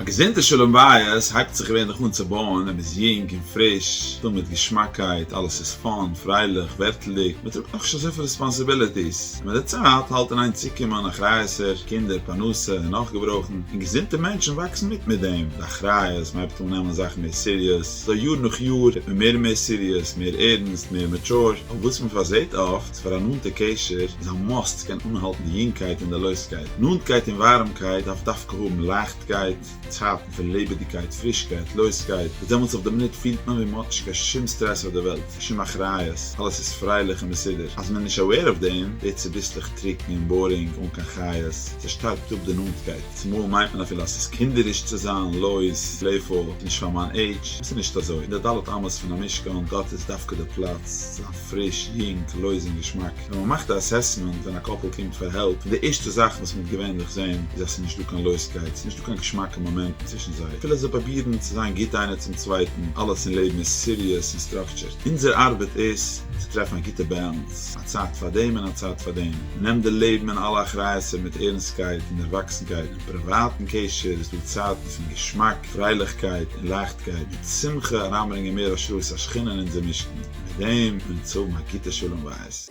א געזונטע שלום בית הייבט זיך געווענליך אן צו בויען ווען מ'איז יונג און פריש, פול מיט געשמאקייט, אלעס איז פאן, פרייליך, ווערטלדיג, מ'טראגט נאכנישט אזויפיל רעספאנסיביליטיס, און מיט די צייט האלט אין איין צוקומען אחריות'ער, קינדער, פרנסה, און נאך געברויכן, און געזונטע מענטשן וואקסן מיט מיט דעם, די אחריות, מ'הייבט אן נעמען זאכן מער סיריעס, אזוי יאר נאך יאר ווערט מען מער און מער סיריעס, מער ערנסט, מער מעטשור, אויף וואס מ'פארזעט אפט. אז פאר א נאנטע קשר איז א מאסט קען אנהאלטן יונגקייט און די לויזקייט. נאנטקייט און ווארעמקייט דארף דווקא האבן לייכטקייט, צייטן פון לעבעדיגקייט, פרישקייט, לויזקייט, וואס דעמאלטס אויף די מינוט פילט מען ווי מען האט נישט קיין שום סטרעס אויף די וועלט, קיין שום אחריות, אלעס איז פרייליך און מסודר. אז מען איז נישט aware אויף דעם, ווערט צוביסלעך טרוקן און בארינג, אן קיין חיות, ס'שטארבט אפ די נאנטקייט, צומאל מיינט מען אפילו אז ס'איז קינדעריש צו זיין לויז, פלעיפול, ס'איז נישט פאר מיין עידזש, וואס איז נישט אזוי, אין די ד' אמות פון המשכן, דארט איז דווקא די פלאץ צו זיין. פריש, יונג, לויז און געשמאק. ווען מען מאכט א אסעסמענט ווען א קאפל קומט פאר העלפ, פון די ערשטע זאכן וואס מען וועט געווענליך זען איז אז ס'איז נישט דא קיין לויזקייט, ס'איז נישט דא קיין געשמאקע מאמענטן צווישן זיי, אפילו זיי פרובירן צו זיין גוט איינער צום צווייטן, אלעס אין לעבן איז סיריעס און סטראקטשערט. אונזער ארבעט איז צו טרעפן א גוטע באלאנס, א צייט פאר דעם און א צייט פאר דעם. מען נעמט די לעבן און אלע אחריות'ער מיט ערנסטקייט און דערוואקסנקייט, אין פריוואטן קשר איז דא צייטן פון געשמאק, פרייליכקייט און לייכטקייט, וועט שמחה אריינברענגען מער השראת השכינה אין אונזער משכן. מיט דעם און צו מיין כיתה שלום בית.